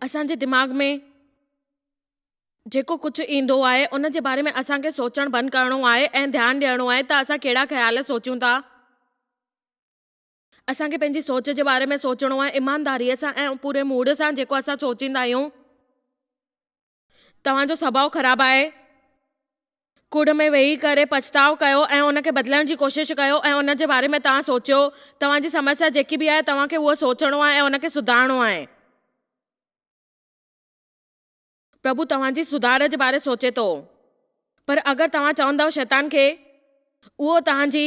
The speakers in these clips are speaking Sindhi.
اسان جي دماغ ۾ جيڪو ڪجهه ايندو آهي ان جي باري ۾ اسان کي سوچڻ بند ڪرڻو آهي ۽ ڌيان ڏيڻو آهي ته اسان ڪهڙا خيال سوچيون ٿا. اسان کي پنهنجي سوچ جي باري ۾ سوچڻو آهي ايمانداريء سان ۽ پوري موڙ سان جيڪو اسان سوچيندا آهيون. توهان جو سڀاء خراب آهي. ڪوڙهه ۾ ويهي ڪري پڇتاء ڪيو ۽ ان کي بدلڻ جي ڪوشش ڪيو ۽ ان جي باري ۾ توهان سوچيو. توهان جي سمسيا جيڪي به آهي توهان کي اهو سوچڻو آهي ۽ ان کي سڌارڻو آهي. پرڀو توهان جي سڌار جي باري سوچي ٿو. پر اگر توهان چوندؤ شيطان کي، اهو توهان جي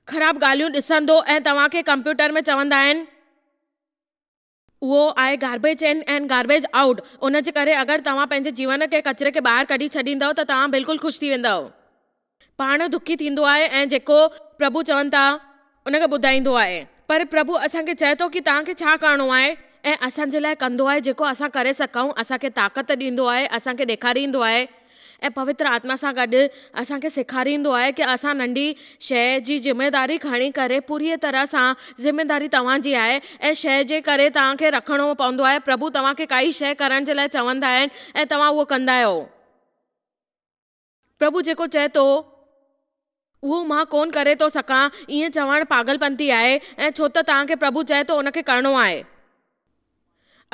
خراب ڳالهيون ڏسندو ۽ توهان کي ڪمپيوٽر ۾ چوندائين. اهو آهي garbage in and garbage out. ان جي ڪري اگر توهان پنهنجي جيون کي ڪچري کي ٻاهر ڪڍي ڇڏيندؤ ته توهان بلڪل خوش ٿي ويندؤ. پاڻ دکي ٿيندو آهي ۽ جيڪو پرڀو چون ٿا ان کي ٻڌائيندو آهي. پر پرڀو اسان کي چئي ٿو ڪي توهان کي ڇا ڪرڻو آهي؟ ۽ اسان جي لاء ڪندو آهي جيڪو اسان ڪري سگهون، اسان کي طاقت ڏيندو آهي، اسان کي ڏيکاريندو آهي ۽ پوتر آتما سان گڏ اسان کي سيکاريندو آهي ڪي اسان ننڍي شيء جي ذميداري کڻي ڪري پوريء طرح سان ذميداري توهان جي آهي ۽ شيء جي ڪري توهان کي رکڻو پوندو آهي پرڀو توهان کي ڪائي شيء ڪرڻ جي لاء چوندا آهن ۽ توهان اهو ڪندا آهيو پرڀو جيڪو چئي ٿو. اهو مان ڪونه ڪري ٿو سگهان. ائين چوڻ پاڳلپنتي آهي ۽ ڇو ته توهان کي پرڀو چئي ٿو ان کي ڪرڻو آهي.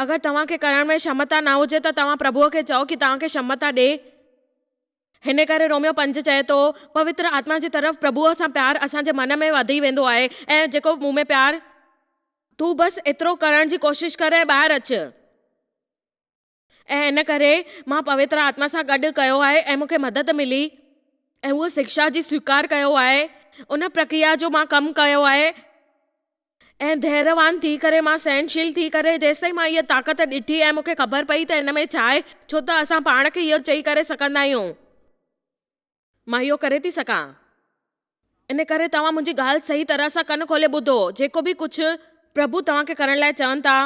اگر توهان کي ڪرڻ ۾ شمتا نه هجي ته توهان پرڀوء کي چئو ڪي توهان کي شمتا ڏي. هن ڪري روميو پنج چئي ٿو، پوتر آتما جي طرف پرڀوء سان پيار اسان جي من ۾ وڌي ويندو آهي ۽ جيڪو مون ۾ پيار. تون بس ايترو ڪرڻ جي ڪوشش ڪر ۽ ٻاهر اچ. ۽ ان ڪري مان پوتر آتما سان گڏ ڪيو آهي ۽ مونکي مدد ملي ۽ هوء سکشا جي سويڪار ڪيو آهي ان پرڪريا جو مان ڪم ڪيو آهي ۽ ڌيريوان ٿي ڪري مان سهنشيل ٿي ڪري جيستائين مان اها طاقت ڏٺي ۽ مونکي خبر پئي ته ان ۾ ڇا آهي ڇو ته اسان پاڻ کي اهو چئي ڪري سگهندا آهيون مان اهو ڪري ٿي سگهان. ان ڪري توهان منهنجي ڳالهه صحيح طرح سان ڪن کولي ٻڌو. جيڪو به ڪجهه پرڀو توهان کي ڪرڻ لاء چون ٿا،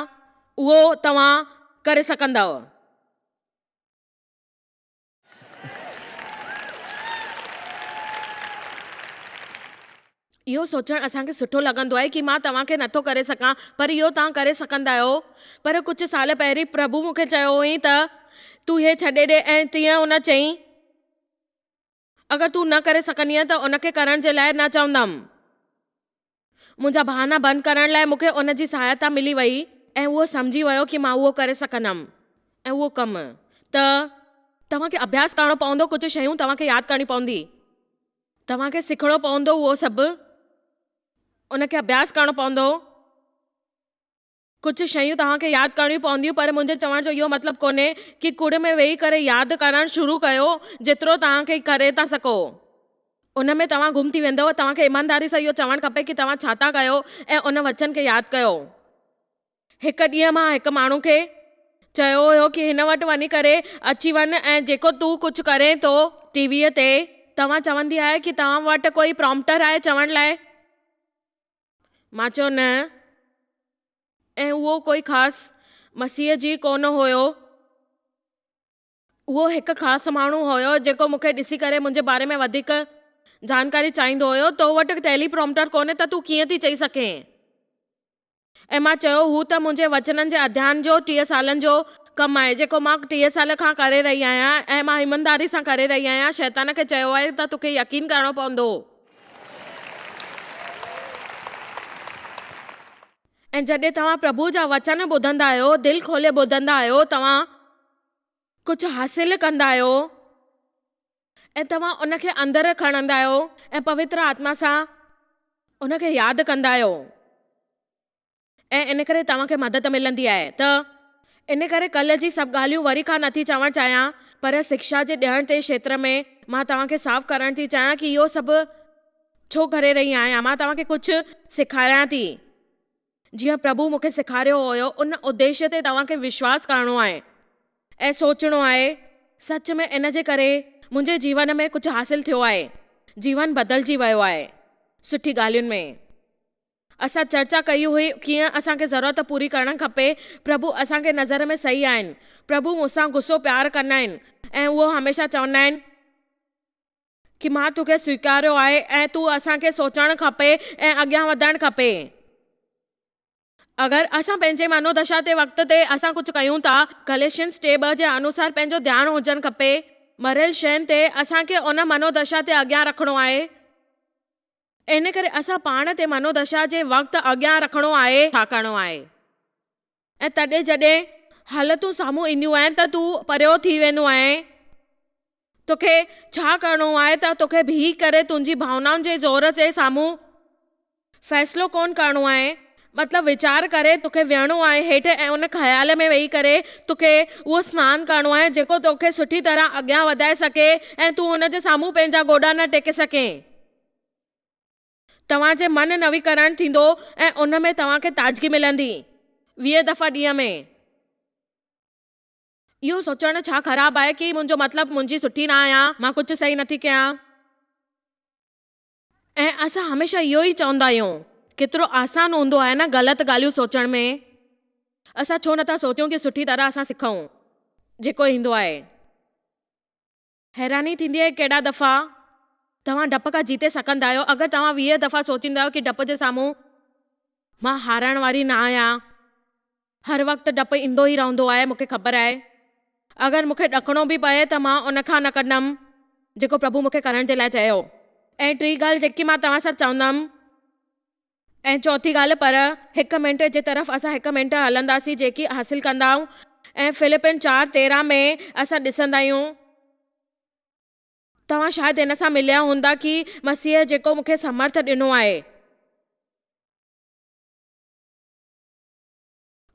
اهو توهان ڪري سگهندؤ. اهو سوچڻ اسان کي سٺو لڳندو آهي ڪي مان توهان کي نٿو ڪري سگهان، پر اهو توهان ڪري سگهندؤ. پر ڪجهه سال پهرين پرڀو مون کي چيو هئائين ته، تون هي ڇڏي ڏي ۽ تيئن هن چيائين. اگر تون نه ڪري سگهندينء ته ان کي ڪرڻ جي لاء نه چوندم. منهنجا بهانا بند ڪرڻ لاء مون کي ان جي سهائتا ملي وئي ۽ اهو سمجهي ويو ڪي مان اهو ڪري سگهندم ۽ اهو ڪم ته. توهان کي اڀياس ڪرڻو پوندو، ڪجهه شيون توهان کي ياد ڪرڻيون پوندي. توهان کي سکڻو پوندو اهو سڀ، ان کي اڀياس ڪرڻو پوندو. ڪجهه شيون توهان کي ياد ڪرڻيون پونديون پر منهنجي چوڻ جو اهو مطلب ڪونهي ڪي ڪڙ ۾ ويهي ڪري ياد ڪرڻ شروع ڪيو جيترو توهان کي ڪري ٿا سگهو ان ۾ توهان گم ٿي ويندؤ توهان کي ايمانداري سان اهو چوڻ کپي ڪي توهان ڇا ٿا ڪيو ۽ ان وچن کي ياد ڪيو. هڪ ڏينهن مان هڪ ماڻهو کي چيو هيو ڪي هن وٽ وڃي ڪري اچي وڃ ۽ جيڪو تون ڪجهه ڪرين ٿو ٽي ويء تي. توهان چوندي آهي ڪي توهان وٽ ڪوئي پرامپٽر آهي چوڻ لاء. مان چيو، نه، ۽ اهو ڪوئي خاص مسيح جي ڪونه هيو، اهو هڪ خاص ماڻهو هيو جيڪو مون کي ڏسي ڪري منهنجي باري ۾ وڌيڪ جانڪاري چاهيندو هيو، تو وٽ ٽيلي پرومپٽر ڪونهي ته تون ڪيئن ٿي چئي سگهين؟ ۽ مان چيو، هو ته منهنجي وچنن جي اڌيان جو ٽيهه سالن جو ڪم آهي، جيڪو مان ٽيهه سال کان ڪري رهي آهيان، ۽ مان ايمانداري سان ڪري رهي آهيان، شيطان کي چيو آهي ته توکي يقين ڪرڻو پوندو. ۽ جڏهن توهان پرڀوء جا وچن ٻڌندا آهيو، دل کولي ٻڌندا آهيو، توهان ڪجهه حاصل ڪندا آهيو ۽ توهان ان کي اندر کڻندا آهيو ۽ پوتر آتما سان ان کي ياد ڪندا آهيو. ۽ ان ڪري توهان کي مدد ملندي آهي ته ان ڪري ڪلهه جي سڀ ڳالهيون وري کان نه ٿي چوڻ چاهيان پر سکشا جي ڏيڻ تي کيتر ۾ مان توهان کي صاف ڪرڻ ٿي چاهيان ڪي اهو سڀ ڇو ڪري رهي آهيان مان توهان کي ڪجهه سيکاريان ٿي جيئن پرڀو مون کي سيکاريو هيو ان اديش تي توهان کي وشواس ڪرڻو آهي ۽ سوچڻو آهي سچ ۾ ان جي ڪري منهنجي جيون ۾ ڪجهه حاصل ٿيو آهي جيون بدلجي ويو آهي سٺي ڳالهين ۾. اسان چرچا ڪئي هئي ڪيئن اسان کي ضرورت پوري ڪرڻ کپي. پرڀو اسان کي نظر ۾ صحيح آهن. پرڀو مون سان غصو پيار ڪندا آهن ۽ اهو هميشه چوندا آهن ڪي مان تو کي سويڪاريو آهي ۽ تو اسان کي سوچڻ کپي ۽ اڳيان وڌڻ کپي. اگر اسان پنهنجي منودشا تي وقت تي اسان ڪجهه ڪيون ٿا. گليشنس ٽي ٻه جي انوسار پنهنجو ڌيان هجڻ کپي. مريل شين تي اسان کي ان منودشا تي اڳيان رکڻو آهي. ان ڪري اسان پاڻ تي منودشا جي وقت اڳيان رکڻو آهي، ڇا ڪرڻو آهي ۽ تڏهن جڏهن حالتون سامهون اينديون آهن ته تون پريو ٿي ويندو آهين. توکي ڇا ڪرڻو آهي ته توکي بيهي ڪري تنهنجي ڀاونائن جي زور جي سامهون فيصلو ڪونه ڪرڻو آهي، مطلب ويچار ڪري توکي ويهڻو آهي هيٺ ۽ ان خيال ۾ ويهي ڪري توکي اهو سنان ڪرڻو آهي جيڪو توکي سٺي طرح اڳيان وڌائي سگهي ۽ تون ان جي سامهون پنهنجا گوڏا نه ٽيڪي سگهين. توهان جي من نويڪرڻ ٿيندو ۽ ان ۾ توهان کي تازگي ملندي. ويهه دفعا ڏينهن ۾. اهو سوچڻ ڇا خراب آهي ڪي منهنجو مطلب منهنجي سٺي نه آهيان، مان ڪجهه صحيح نٿي ڪيان. ۽ اسان هميشه اهو ئي چوندا آهيون. ڪيترو آسان هوندو آهي نه غلط ڳالهيون سوچڻ ۾. اسان ڇو نٿا سوچيون ڪي سٺي طرح اسان سکون. جيڪو ايندو آهي. حيراني ٿيندي آهي ڪيڏا دفعا توهان ڊپ کان جيتي سگهندا آهيو اگر توهان ويهه دفعا سوچيندا آهيو ڪي ڊپ جي سامهون مان هارائڻ واري نه آهيان هر وقت ڊپ ايندو ئي رهندو آهي مونکي خبر آهي اگر مونکي ڏڪڻو به پئي ته مان ان کان نه ڪنڊم جيڪو پرڀو مونکي ڪرڻ جي لاء چيو. ۽ ٽي ڳالهه جيڪي مان توهان سان چوندم. ۽ چوٿين ڳالهه پر هڪ منٽ جي طرف اسان هڪ منٽ هلنداسين جيڪي حاصل ڪندائون ۽ فلپين چار تيرهن ۾ اسان ڏسندايون. توهان شايد ان سان مليا هوندا ڪي مسيح جيڪو مون کي سمرٿ ڏنو آهي.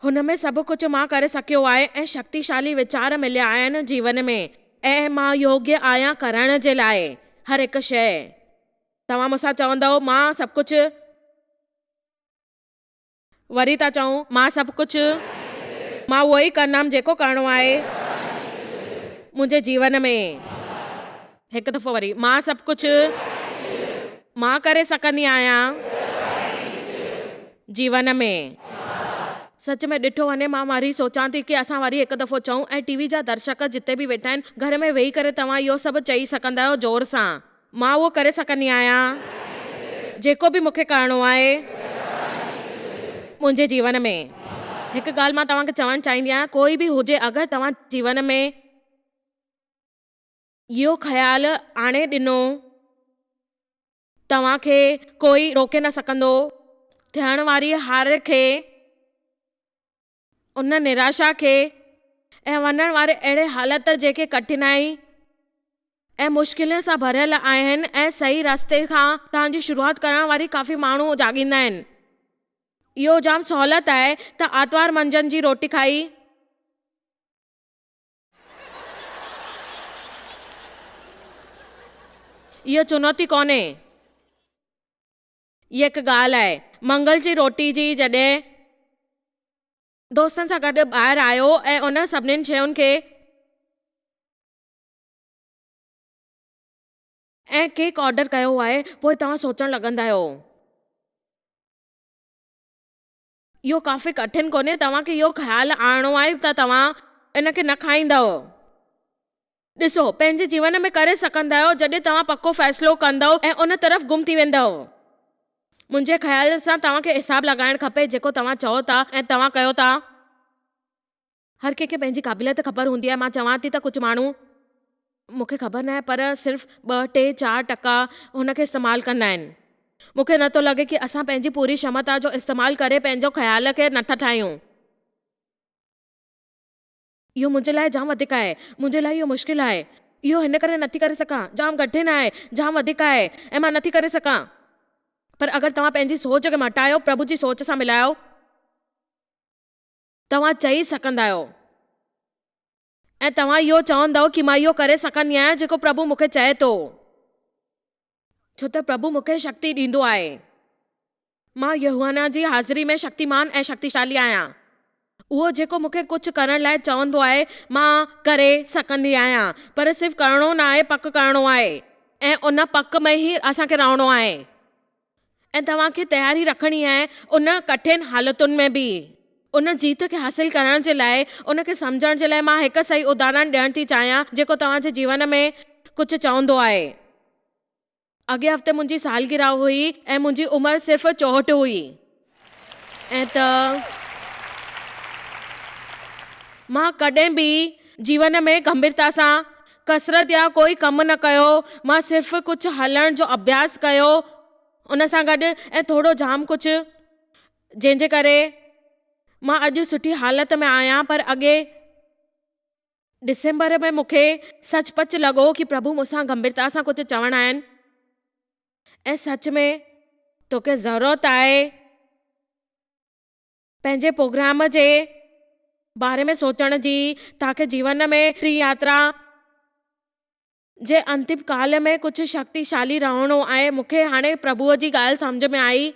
هن ۾ سڀ ڪجهه مان ڪري سگهيو آهي ۽ شڪتيشالي ويچار مليا آهن جيون ۾ ۽ مان يوگيه آهيان ڪرڻ جي لاء هر هڪ شيء. توهان مون سان چوندؤ مان سڀ ڪجهه. وري ٿا چئون مان سڀ ڪجهه. مان اهو ئي ڪندم جيڪو ڪرڻو آهي منهنجي جيون ۾. هڪ دفعو وري. مان سڀ ڪجهه مان ڪري سگهندي آهيان جيون ۾. سچ ۾ ڏٺو وڃي مان وري سوچان ٿي ڪي اسان وري هڪ دفعو چئون ۽ ٽي وي جا درشڪ جتي به ويٺا آهن گهر ۾ ويهي ڪري توهان اهو سڀ چئي سگهندا آهيو زور سان. مان اهو ڪري سگهندي آهيان جيڪو به مون کي ڪرڻو آهي منهنجي جيون ۾. هڪ ڳالهه مان توهان کي چوڻ چاهيندي آهيان ڪوئي به هجي اگر توهان جيون ۾. اهو خيال آڻي ڏنو توهان کي ڪوئي روڪي نه سگهندو ٿيڻ واري هار کي ان نراشا کي ۽ وڃڻ واري اهڙي حالت جيڪي ڪٺنائي ۽ مشڪلين سان ڀريل آهن ۽ صحيح رستي کان ڪم جي شروعات ڪرڻ واري ڪافي ماڻهو جاڳيندا آهن اهو جام سهولت آهي ته آرتوار منجهند جي روٽي کائي اها چنوتي ڪونهي، اها هڪ ڳالهه آهي. منگل جي روٽي جي جڏهن دوستن سان گڏ ٻاهر آيو ۽ انهن سڀني شين کي ۽ ڪيڪ آرڊر ڪيو آهي پوء توهان سوچڻ لڳندايو. اهو ڪافي ڪٺن ڪونهي، توهان کي اهو خيال آڻڻو آهي ته توهان ان کي نه کائيندؤ. ڏسو، پنهنجي جيون ۾ ڪري سگهندؤ جڏهن توهان پڪو فيصلو ڪندؤ ۽ ان طرف گم ٿي ويندؤ. منهنجي خيال سان توهان کي حساب لڳائڻ کپي جيڪو توهان چئو ٿا ۽ توهان ڪيو ٿا. هر ڪنهن کي پنهنجي قابليت خبر هوندي آهي، مان چوان ٿي ته ڪجهه ماڻهو، مون کي خبر ناهي پر صرف ٻه، ٽي، چار ٽڪا هن کي استعمال ڪندا آهن. مون کي نه ٿو لڳي ڪي اسان پنهنجي پوري شمتا جو استعمال ڪري پنهنجو خيال کي نه ٿا ٺاهيون. اهو منهنجي لاء جام وڌيڪ آهي. منهنجي لاء اهو مشڪل آهي. اهو هن ڪري نه ٿي ڪري سگهان. جام ڪٺن آهي. جام وڌيڪ آهي ۽ مان نه ٿي ڪري سگهان. پر اگر توهان پنهنجي سوچ کي مهٽايو، پرڀو جي سوچ سان ملايو. توهان چئي سگهندا آهيو ۽ توهان اهو چوندؤ ڪي مان اهو ڪري سگهندي آهيان جيڪو پرڀو مون کي چئي ٿو، ڇو ته پرڀو مون کي شڪتي ڏيندو آهي. مان يهوانه جي حاضري ۾ شڪتيمان ۽ شڪتيشالي آهيان. اهو جيڪو مون کي ڪجهه ڪرڻ لاء چوندو آهي، مان ڪري سگهندي آهيان، پر صرف ڪرڻو ناهي، پڪ ڪرڻو آهي ۽ ان پڪ ۾ ئي اسان کي رهڻو آهي. ۽ توهان کي تياري رکڻي آهي ان ڪٺن حالتن ۾ به. ان جيت کي حاصل ڪرڻ جي لاء ان کي سمجهڻ جي لاء مان هڪ صحيح اداهرڻ ڏيڻ ٿي چاهيان جيڪو توهان جي جيون ۾ ڪجهه چوندو آهي. اڳئين هفتي منهنجي سالگرهه هئي ۽ منهنجي عمر صرف چوهٺ هئي. ائين ته مان ڪڏهن به جيون ۾ گنڀيرتا سان ڪسرت يا ڪوئي ڪم نه ڪيو، مان صرف ڪجهه هلڻ جو اڀياس ڪيو ان سان گڏ ۽ ٿورو جام ڪجهه جنهن جي ڪري مان اڄ سٺي حالت ۾ آهيان پر اڳي ڊسمبر ۾ مون کي سچ پچ لڳو ڪي پرڀو مون سان گنڀيرتا سان ڪجهه چوڻ آهن. ۽ سچ ۾ توکي ضرورت آهي پنهنجي پروگرام جي باري ۾ سوچڻ جي تاڪه جيون ۾ ٽي ياترا جي انتم ڪال ۾ ڪجهه شڪتيشالي رهڻو آهي مونکي هاڻي پرڀوء جي ڳالهه سمجهه ۾ آئي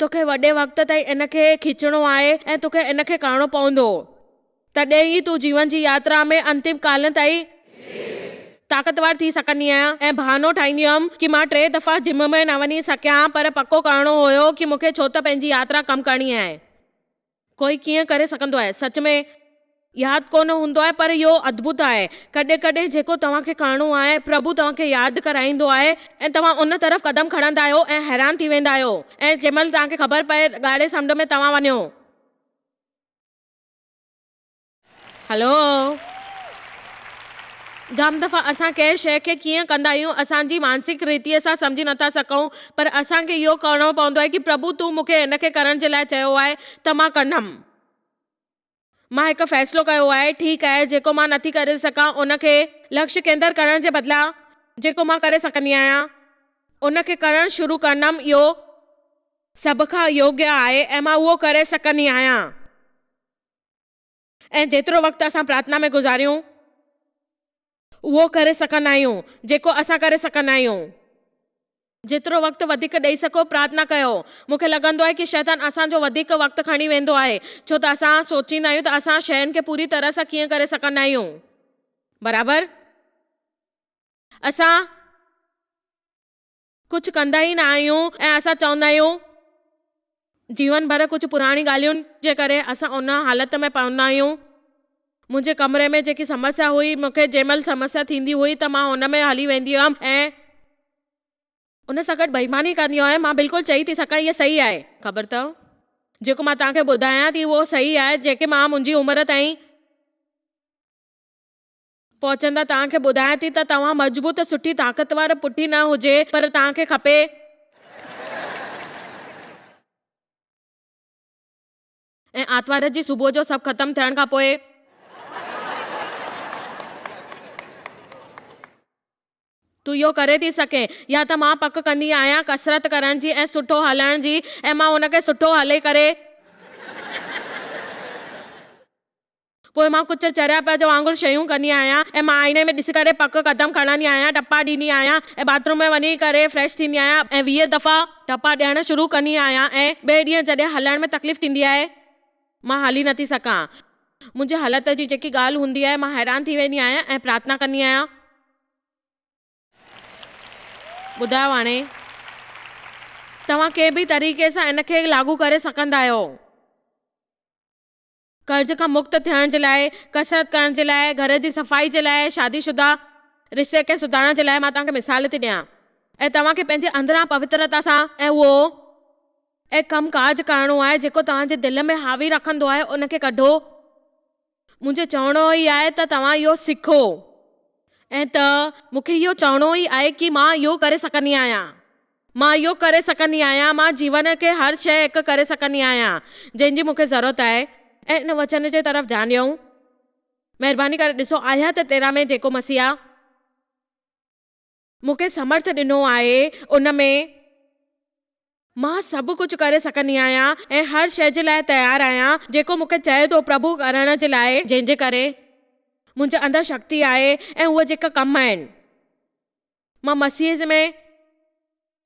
توکي وڏي وقت تائين ان کي کيچڻو آهي ۽ توکي ان کي ڪاهڻو پوندو. تڏهن ئي تون جيون جي ياترا ۾ انتم ڪالهه تائين طاقتور ٿي سگهندينء. ۽ بهانو ٺاهيندي هيم ڪي مان ٽي دفعا جم ۾ نه وڃي سگهيان پر پڪو ڪرڻو هيو ڪي مون کي ڇو ته پنهنجي ياترا ڪم ڪرڻي آهي. ڪوئي ڪيئن ڪري سگهندو آهي. سچ ۾ ياد ڪونه هوندو آهي پر اهو ادڀت آهي. ڪڏهن ڪڏهن جيڪو توهان کي ڪرڻو آهي پرڀو توهان کي ياد ڪرائيندو آهي ۽ توهان ان طرف قدم کڻندا آهيو ۽ حيران ٿي ويندا آهيو ۽ جنهن مهل توهان کي خبر پئي ڳاڙهي سمنڊ ۾ توهان وڃو هلو جام دفعا اسان ڪنهن شيء کي ڪيئن ڪندا آهيون اسان جي مانسڪ ريتيء سان سمجهي نٿا سگهون پر اسان کي اهو ڪرڻو پوندو آهي ڪي پرڀو تون مون کي ان کي ڪرڻ جي لاء چيو آهي ته مان ڪندم مان هڪ فيصلو ڪيو آهي ٺيڪ آهي جيڪو مان نٿي ڪري سگهان ان کي لڪش ڪيندر ڪرڻ جي بدلا جيڪو مان ڪري سگهندي آهيان ان کي ڪرڻ شروع ڪندم اهو سڀ کان يوگيه آهي ۽ مان اهو ڪري سگهندي آهيان. ۽ جيترو وقت اسان پرارٿنا ۾ گذاريون اهو ڪري سگهندا آهيون جيڪو اسان ڪري سگهندا آهيون. جيترو وقت وڌيڪ ڏئي سگهو پرارٿنا ڪيو. مون کي لڳندو آهي ڪي شيطان اسان جو وڌيڪ وقت کڻي ويندو آهي ڇو ته اسان سوچيندا آهيون ته اسان شين کي پوري طرح سان ڪيئن ڪري سگهندا آهيون برابر اسان ڪجهه ڪندا ئي نه آهيون ۽ اسان چوندا آهيون جيون ڀر ڪجهه پراڻي ڳالهين جي ڪري اسان ان حالت ۾ پوندا آهيون. منهنجي ڪمري ۾ جيڪي سمسيا هئي، مون کي جنهن مهل سمسيا ٿيندي هئي ته مان هن ۾ هلي ويندي هيم ۽ ان سان گڏ بيئماني ڪندي هيم مان بلڪل چئي ٿي سگهان هيء صحيح آهي. خبر اٿو جيڪو مان توهان کي ٻڌايان ٿي اهو صحيح آهي جيڪي مان منهنجي عمر تائين. پهچندا توهان کي ٻڌايان ٿي ته توهان مضبوط ته سٺي طاقتور پٺي نه هجي پر توهان کي کپي. ۽ آرتوار جي صبح جو سڀ ختم ٿيڻ کان پوء. تون اهو ڪري ٿي سگهين يا ته مان پڪ ڪندي آهيان ڪسرت ڪرڻ جي ۽ سٺو هلڻ جي ۽ مان هن کي سٺو هلي ڪري. پوء مان ڪجهه چريا پيا جا وانگر شيون ڪندي آهيان ۽ مان آئيني ۾ ڏسي ڪري پڪ قدم کڻندي آهيان، ٽپا ڏيندي آهيان ۽ باٿ روم ۾ وڃي ڪري فريش ٿيندي آهيان ۽ ويهه دفعا ٽپا ڏيڻ شروع ڪندي آهيان ۽ ٻئي ڏينهن جڏهن هلڻ ۾ تڪليف ٿيندي آهي مان هلي نٿي سگهان منهنجي هلت جي جيڪي ڳالهه هوندي آهي مان حيران ٿي ويندي آهيان ۽ پرارٿنا ڪندي آهيان ٻڌايو هاڻي توهان ڪنهن به طريقي سان ان کي لاڳو ڪري سگهندا آهيو. قرض کان مڪت ٿيڻ جي لاء، ڪسرت ڪرڻ جي لاء، گهر جي صفائي جي لاء، شادي شده رشتي کي سڌارڻ جي لاء مان توهان کي مثال ٿي ڏيان ۽ توهان کي پنهنجي اندران پوترتا سان ۽ اهو ۽ ڪم ڪاج ڪرڻو آهي جيڪو توهان جي دل ۾ حاوي رکندو آهي ان کي ڪڍو منهنجو چوڻ اهو ئي آهي ته توهان اهو سکو ۽ ته مون کي اهو چوڻو ئي آهي ڪي مان اهو ڪري سگهندي آهيان. مان اهو ڪري سگهندي آهيان. مان جيون کي هر شيء هڪ ڪري سگهندي آهيان، جنهن جي مون کي ضرورت آهي. ۽ ان وچن جي طرف ڌيان ڏيون. مهرباني ڪري ڏسو، آهيان ته تيرا ۾ جيڪو مسيح. مون کي سمرٿ ڏنو آهي، ان ۾. مان سڀ ڪجهه ڪري سگهندي آهيان ۽ هر شيء جي لاء تيار آهيان، جيڪو مون کي چئي ٿو پرڀو ڪرڻ جي لاء. جنهن جي ڪري منهنجي اندر شڪتي آهي ۽ اهي جيڪا ڪم آهن. مان مسيح ۾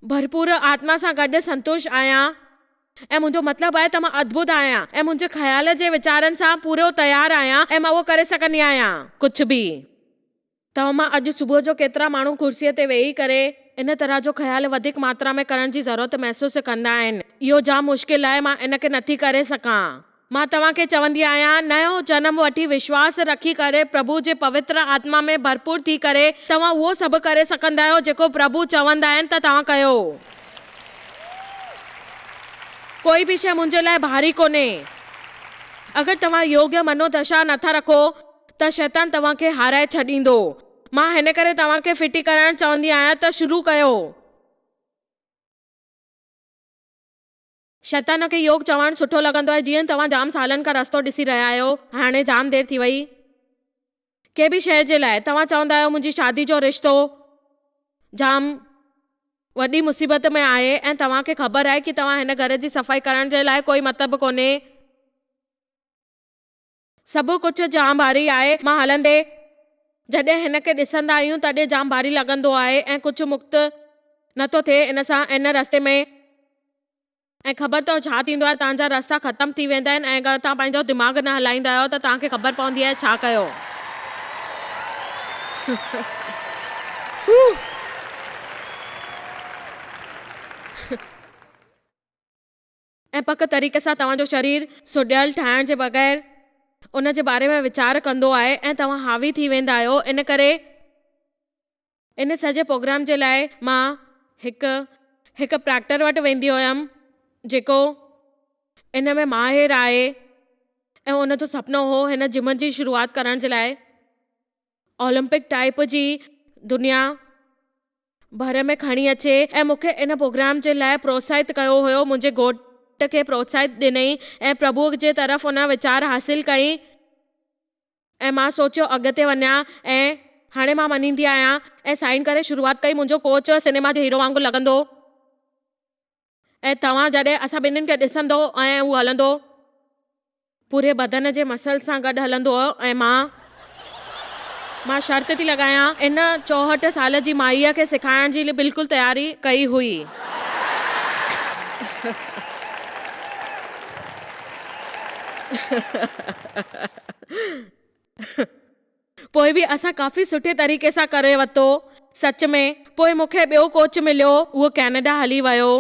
ڀرپور آتما سان گڏ سنتوش آهيان ۽ منهنجو مطلب آهي ته مان ادبوت آهيان ۽ منهنجي خيال جي ويچارن سان پورو تيار آهيان ۽ مان اهو ڪري سگهندي آهيان ڪجهه به. توهان مان اڄ صبح جو ڪيترا ماڻهو ڪرسيء تي ويهي ڪري ان طرح جو خيال وڌيڪ ماترا ۾ ڪرڻ جي ضرورت محسوس ڪندا آهن؟ اهو جام مشڪل آهي مان ان کي نٿي ڪري سگهان. مان توهان کي چوندي آهيان، نئون جنم وٺي وشواس رکي ڪري پرڀو جي پوتر آتما ۾ ڀرپور ٿي ڪري توهان اهو سڀ ڪري سگهندا آهيو جيڪو پرڀو چوندا آهن ته توهان ڪيو. ڪوئي به شيء منهنجي لاء ڀاري ڪونهي. اگر توهان يوگيه منودشا نٿا رکو ته شيطان توهان کي هارائي ڇڏيندو. مان هن ڪري توهان کي ڦٽي ڪرائڻ چوندي آهيان ته شروع ڪيو. شيطان کي يوڪ چوڻ سٺو لڳندو آهي جيئن توهان جام سالن کان رستو ڏسي رهيا آهيو هاڻي جام دير ٿي وئي ڪنهن به شيء جي لاء توهان چوندا آهيو منهنجي شادي جو رشتو جام وڏي مصيبت ۾ آهي ۽ توهان کي خبر آهي ڪي توهان هن گهر جي صفائي ڪرڻ جي لاء ڪوئي مطلب ڪونهي. سڀ ڪجهه جام ڀاري آهي. مان هلندي جڏهن هن کي ڏسندا آهيون تڏهن جام ڀاري لڳندو آهي ۽ ڪجهه مڪت نه ٿو ٿئي ان سان ۽ نه رستي ۾ ۽ خبر اٿو ڇا ٿيندو آهي تان جا رستا ختم ٿي ويندا آهن ۽ اگر تان پنهنجو دماغ نه هلائيندا آهيو ته تان کي خبر پوندي آهي ڇا ڪيو ويو. ۽ پڪ طريقي سان توهان جو شرير سڏيل ٺاهڻ جي بغير ان جي باري ۾ ويچار ڪندو آهي ۽ توهان حاوي ٿي ويندا آهيو ان ڪري ان سڄي پروگرام جي لاء مان هڪ هڪ پراڪٽر وٽ ويندي هيم جيڪو ان ۾ ماهر آهي ۽ ان جو سپنو هو هن جم جي شروعات ڪرڻ جي لاء اولمپڪ ٽائيپ جي دنيا ڀر ۾ کڻي اچي ۽ مون کي ان پروگرام جي لاء پروتساهت ڪيو هيو. منهنجي گهوٽ کي پروتساهت ڏنئي ۽ پرڀوء جي طرف ان ويچار حاصل ڪئي ۽ مان سوچيو اڳتي وڃان ۽ هاڻي مان مڃيندي آهيان ۽ سائين ڪري شروعات ڪئي منهنجو ڪوچ سينما جي هيرو وانگر لڳندو. ۽ توهان جڏهن اسان ٻنهين کي ڏسندؤ ۽ هو هلندو هو، پوري بدن جي مسلز سان گڏ هلندو هو ۽ مان مان شرط ٿي لڳايان. ان چوهٺ سال جي مائيء کي سکائڻ جي بلڪل تياري ڪئي هئي. پوء به اسان ڪافي سٺي طريقي سان ڪري ورتو. سچ ۾. پوء مون کي ٻيو ڪوچ مليو. اهو ڪينيڊا هلي ويو.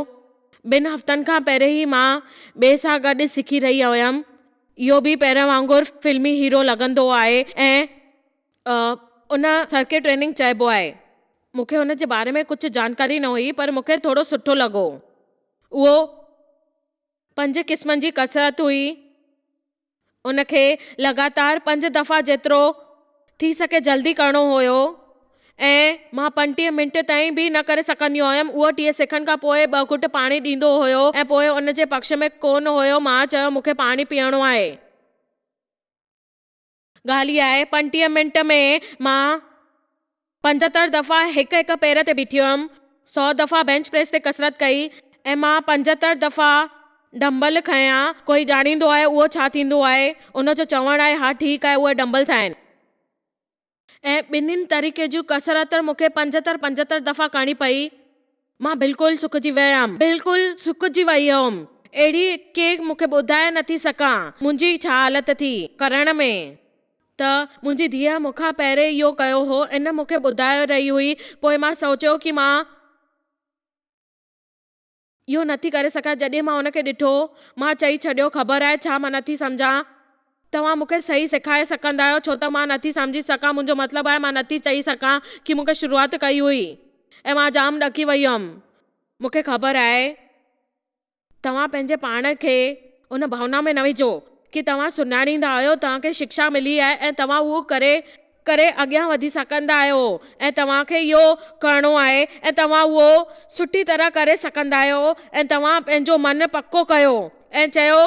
ٻن هفتن کان پهرين ئي مان ٻئي سان گڏ سکي رهي هيم. اهو به پهرين وانگر فلمي هيرو لڳندو آهي ۽ ان سرکي ٽريننگ چئبو آهي. مون کي ان جي باري ۾ ڪجهه جانڪاري نه هئي پر مون کي ٿورو سٺو لڳو. اهو پنج قسمن جي ڪسرت هئي. ان کي لڳاتار پنج دفعا جيترو ٿي سگهي جلدي ڪرڻو هيو ۽ مان پنجٽيهه منٽ تائين به نه ڪري سگهندي هيم. اهو ٽيهه سيڪنڊ کان پوء ٻه گهٽ پاڻي ڏيندو هيو ۽ پوء ان جي پڪش ۾ ڪونه هيو. مان چيو، مون کي پاڻي پيئڻو آهي. ڳالهه اها آهي، پنجٽيهه منٽ ۾ مان. پنجهتر دفعا هڪ هڪ پير تي بيٺي هيم، سؤ دفعا بينچ پريس تي ڪسرت ڪئي ۽ مان پنجهتر دفعا ڊمبل کنيا. ڪوئي ڄاڻيندو آهي اهو ڇا ٿيندو آهي؟ ان جو چوڻ آهي، ها ٺيڪ آهي اهي ڊمبلس آهن. ۽ ٻنهين طريقي جون ڪسرتر مون کي پنجهتر پنجهتر دفعا ڪرڻي پئي. مان بلڪل سڪجي ويم. بلڪل سڪجي وئي هئم. اهڙي ڪي مون کي ٻڌائي نه ٿي سگهان منهنجي ڇا حالت ٿي. ڪرڻ ۾ ته منهنجي ڌيء مون کان پهرين اهو ڪيو هو. ان مون کي ٻڌائي رهي هئي. پوء مان سوچيو ڪي مان اهو نه ٿي ڪري سگهان. جڏهن مان ان کي ڏٺو مان چئي ڇڏيو خبر آهي ڇا مان نه ٿي سمجهان. توهان مون کي صحيح سيکاري سگهندا آهيو ڇو ته مان نٿي سمجهي سگهان منهنجو مطلب آهي مان نٿي چئي سگهان ڪي مون کي شروعات ڪئي هئي ۽ مان جام ڏڪي وئي هئم مون کي خبر آهي توهان پنهنجي پاڻ کي ان ڀاونا ۾ نه وجهو ڪي توهان سڃاڻيندا آهيو توهان کي شڪشا ملي آهي ۽ توهان اهو ڪري ڪري اڳيان وڌي سگهندا آهيو ۽ توهان کي اهو ڪرڻو آهي ۽ توهان اهو سٺي طرح ڪري سگهندا آهيو ۽ توهان پنهنجو من پڪو ڪيو ۽ چيو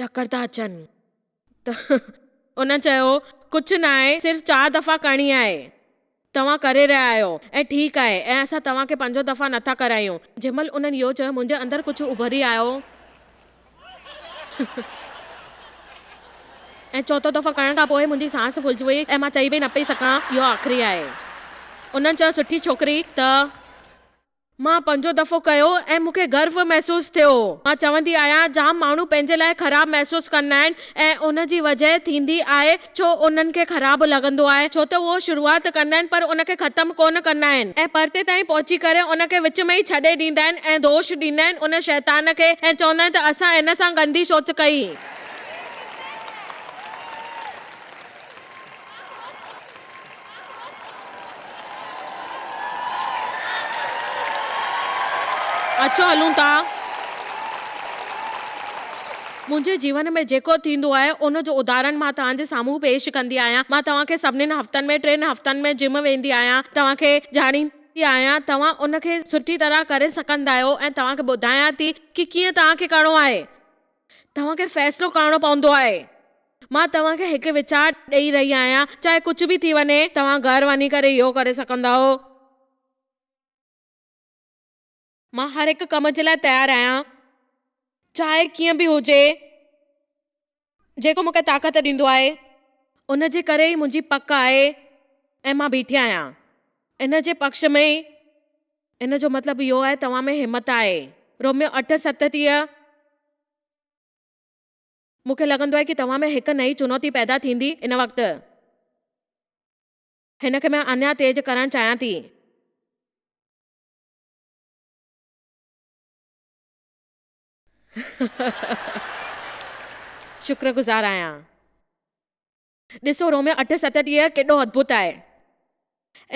چڪر ٿا اچن ته هن چيو ڪجهه ناهي صرف چار دفعا ڪرڻي آهي توهان ڪري رهيا آهيو ۽ ٺيڪ آهي ۽ اسان توهان کي پنجون دفعا نٿا ڪرايون. جنهن مهل انهن اهو چيو منهنجي اندر ڪجهه اڀري آيو ۽ چوٿون دفعو ڪرڻ کان پوء منهنجي سانس ڦلجي وئي ۽ مان چئي به نه پئي سگهان اهو آخري آهي انهن چيو سٺي ڇوڪري ته. مان پنجون دفعو ڪيو ۽ مون کي گرو محسوس ٿيو. مان چوندي آهيان جام ماڻهو پنهنجي لاء خراب محسوس ڪندا آهن ۽ ان جي وجهه ٿيندي آهي ڇو انهن کي خراب لڳندو آهي ڇو ته اهو شروعات ڪندا آهن پر ان کي ختم ڪونه ڪندا آهن ۽ پرتي تائين پهچي ڪري ان کي وچ ۾ ئي ڇڏي ڏيندا آهن ۽ دوش ڏيندا آهن ان شيطان کي ۽ چوندا آهن ته اسان هن سان گندي سوچ ڪئي. اچو هلون ٿا. منهنجي جيون ۾ جيڪو ٿيندو آهي، ان جو اداهرڻ مان توهان جي سامهون پيش ڪندي آهيان. مان توهان کي سڀنين هفتن ۾ ٽن هفتن ۾ جم ويندي آهيان، توهان کي ڄاڻيندي آهيان، توهان ان کي سٺي طرح ڪري سگهندا آهيو ۽ توهان کي ٻڌايان ٿي ڪي ڪيئن توهان کي ڪرڻو آهي. توهان کي فيصلو ڪرڻو پوندو آهي. مان توهان کي هڪ ويچار ڏئي رهي آهيان، چاهي ڪجهه به ٿي وڃي، توهان گهر وڃي ڪري اهو ڪري سگهندؤ. مان هر هڪ ڪم جي لاء تيار آهيان، چاهي ڪيئن به هجي، جيڪو مون کي طاقت ڏيندو آهي. ان جي ڪري ئي منهنجي پڪ آهي ۽ مان بيٺي آهيان ان جي پڪش ۾ ئي. ان جو مطلب اهو آهي توهان ۾ همت آهي. روميو اٺ ستيهه. مون کي لڳندو آهي ڪي توهان ۾ هڪ نئين چنوتي پيدا ٿيندي ان وقت. هن کي مان اڃا تيز ڪرڻ چاهيان ٿي. شڪرگذار آهيان. ڏسو روميو اٺ ستٽيهه ڪيڏو اڌڀت آهي.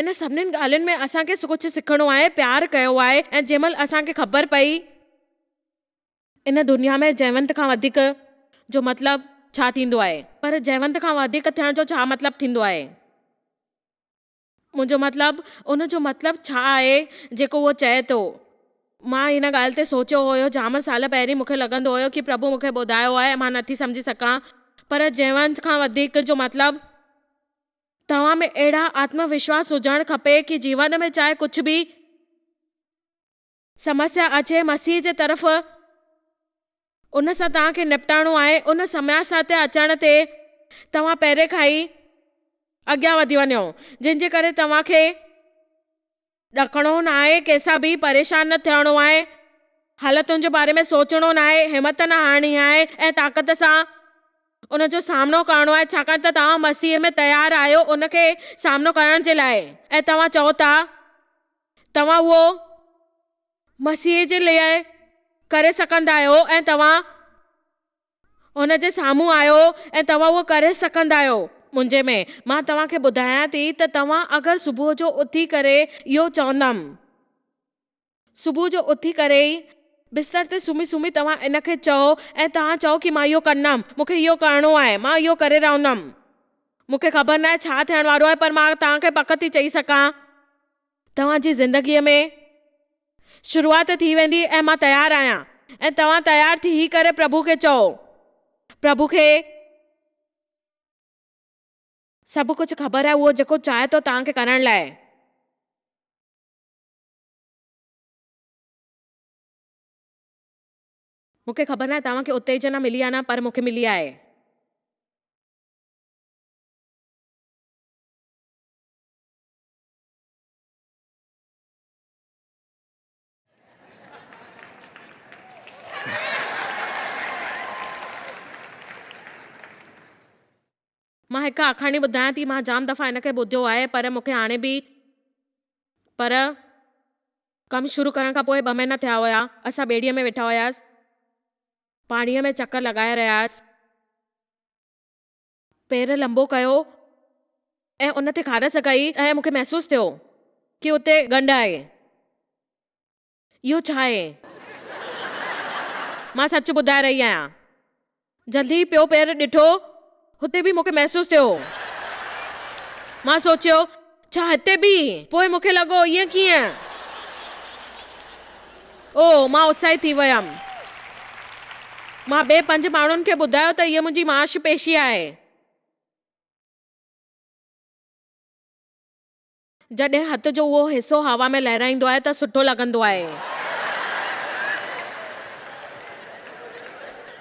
ان سڀنين ڳالهين ۾ اسان کي ڪجهه سکڻو آهي، پيار ڪيو آهي ۽ جنهن مهل اسان کي خبر پئي. ان دنيا ۾ جئونت کان وڌيڪ جو مطلب ڇا ٿيندو آهي؟ پر جئونت کان وڌيڪ ٿيڻ جو ڇا مطلب ٿيندو آهي؟ منهنجو مطلب، ان جو مطلب ڇا آهي جيڪو هو چئي ٿو؟ مان هن ڳالهه تي سوچيو هيو، جام سال پهرين مونکي لڳندو هيو ڪي پرڀو مونکي ٻڌايو آهي ۽ مان نٿي سمجهي سگهان، پر جيون کان وڌيڪ جو مطلب، توهان ۾ اهڙا آتم وشواس هجڻ کپي ڪي جيون ۾ چاهي ڪجهه به. سمسيا اچي مسيح جي طرف، ان سان توهان کي نپٽائڻو آهي، ان سمياسيا تي اچڻ تي توهان پهرين کان ئي اڳيان وڌي وڃو، جنهن جي ڪري توهان کي ڏڪڻو ناهي، ڪنهن سان به پريشان نه ٿيڻو آهي، حالتن جي باري ۾ سوچڻو ناهي، همت نه هارڻي آهي ۽ طاقت سان ان جو سامنو ڪرڻو آهي، ڇاڪاڻ ته توهان مسيح ۾ تيار آهيو ان کي سامنو ڪرڻ جي لاء ۽ توهان چئو ٿا توهان اهو مسيح جي لئه ڪري سگهندا آهيو ۽ توهان هن جي سامهون آهيو ۽ توهان اهو ڪري سگهندا آهيو منهنجي ۾. مان توهان کي ٻڌايان ٿي ته توهان اگر صبح جو اٿي ڪري اهو چوندم، صبح جو اٿي ڪري ئي، بستر تي سمهي سمهي توهان ان کي چئو ۽ توهان چئو ڪي مان اهو ڪندم، مون کي اهو ڪرڻو آهي، مان اهو ڪري رهندم. مون کي خبر ناهي ڇا ٿيڻ وارو آهي پر مان توهان کي پڪ ٿي چئي سگهان. توهان جي زندگيء ۾ شروعات ٿي ويندي ۽ مان تيار آهيان ۽ توهان تيار ٿي هي ڪري پرڀو کي چئو. پرڀو کي. سڀ ڪجهه خبر آهي اهو جيڪو چاهي ٿو توهان کي ڪرڻ لاء. مون کي خبر ناهي توهان کي اتيجنا ملي يا نه پر مون کي ملي آهي. مان هڪ آکاڻي ٻڌايان ٿي مان جام دفعا ان کي ٻڌيو آهي پر مونکي هاڻي به پر ڪم شروع ڪرڻ کان پوء ٻه مهينا ٿيا هيا اسان ٻيڙيء ۾ ويٺا هياس پاڻيء ۾ چڪر لڳائي رهياس پير لنبو ڪيو ۽ ان تي کارس لڳائي ۽ مون کي محسوس ٿيو ڪي اتي ڳنڍ آهي. اهو ڇا آهي؟ مان سچ ٻڌائي رهي آهيان. جلدي ئي ٻيو پير ڏٺو هتي به مون کي محسوس ٿيو. مان سوچيو ڇا هتي به؟ پوء مون کي لڳو، ائين ڪيئن؟ او، مان اتساهت ٿي ويم. مان ٻئي پنج ماڻهن کي ٻڌايو ته هيء منهنجي معاش پيشي آهي. جڏهن هٿ جو اهو حصو هوا ۾ لهرائيندو آهي ته سٺو لڳندو آهي.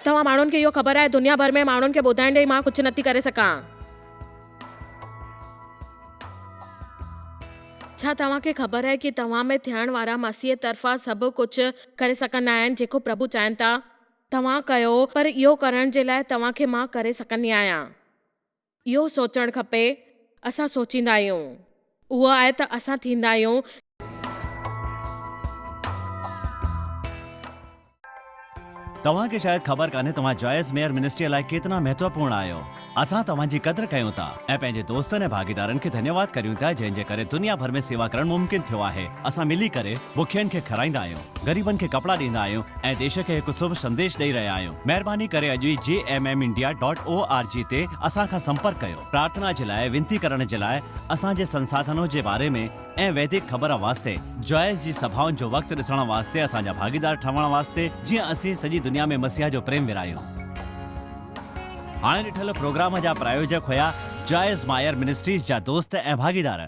توهان ماڻهن کي اهو خبر آهي، دنيا ڀر ۾ ماڻهن کي ٻڌائڻ ڏئي مان ڪجهه نٿي ڪري سگهان. ڇا توهان کي خبر آهي ڪي توهان ۾ ٿيڻ وارا مسيح طرفان سڀ ڪجهه ڪري سگهندا آهن جيڪو پرڀو چاهين ٿا توهان ڪيو پر اهو ڪرڻ جي لاء توهان کي مان ڪري سگهندي آهيان اهو سوچڻ کپي اسان سوچيندا آهيون اهو آهي ته اسان ٿيندا آهيون توهان کي شايد خبر ڪانهي توهان جائز ميئر منسٽريء لاء ڪيترا مهتوپورڻ آهيو. اسان توهان جي قدر ڪيون ٿا ۽ پنهنجي دوستن ۽ ڀاڳيدارن کي ڌنيواد ڪريون ٿا جنهن جي ڪري دنيا ڀر ۾ سيوا ڪرڻ ممڪن ٿيو آهي. اسان ملي ڪري بکين کي کارائيندا آهيون، غريبن کي ڪپڙا ڏيندا آهيون ۽ ديش کي هڪ سڀ سنديش ڏئي رهيا آهيون. مهرباني ڪري اڄ ئي G M M India dot O R G تي اسان کان سمپرڪ ڪيو. پرارٿنا جي لاء، وينتي ڪرڻ جي لاء، اسان جي سنساڌنو جي باري ۾، ۽ ويدڪ خبر واسطي، جوائس جي سڀائن جو وقت ڏسڻ واسطي اسان جا ڀاڳيدار ٺهڻ واسطي جيئن اسين سڄي دنيا ۾ مسيح جو پريم ورهايون. هاڻي ڏٺل پروگرام جا پرايوجڪ هيا جوائس مائر منسٽريز جا دوست ۽ ڀاڳيدار.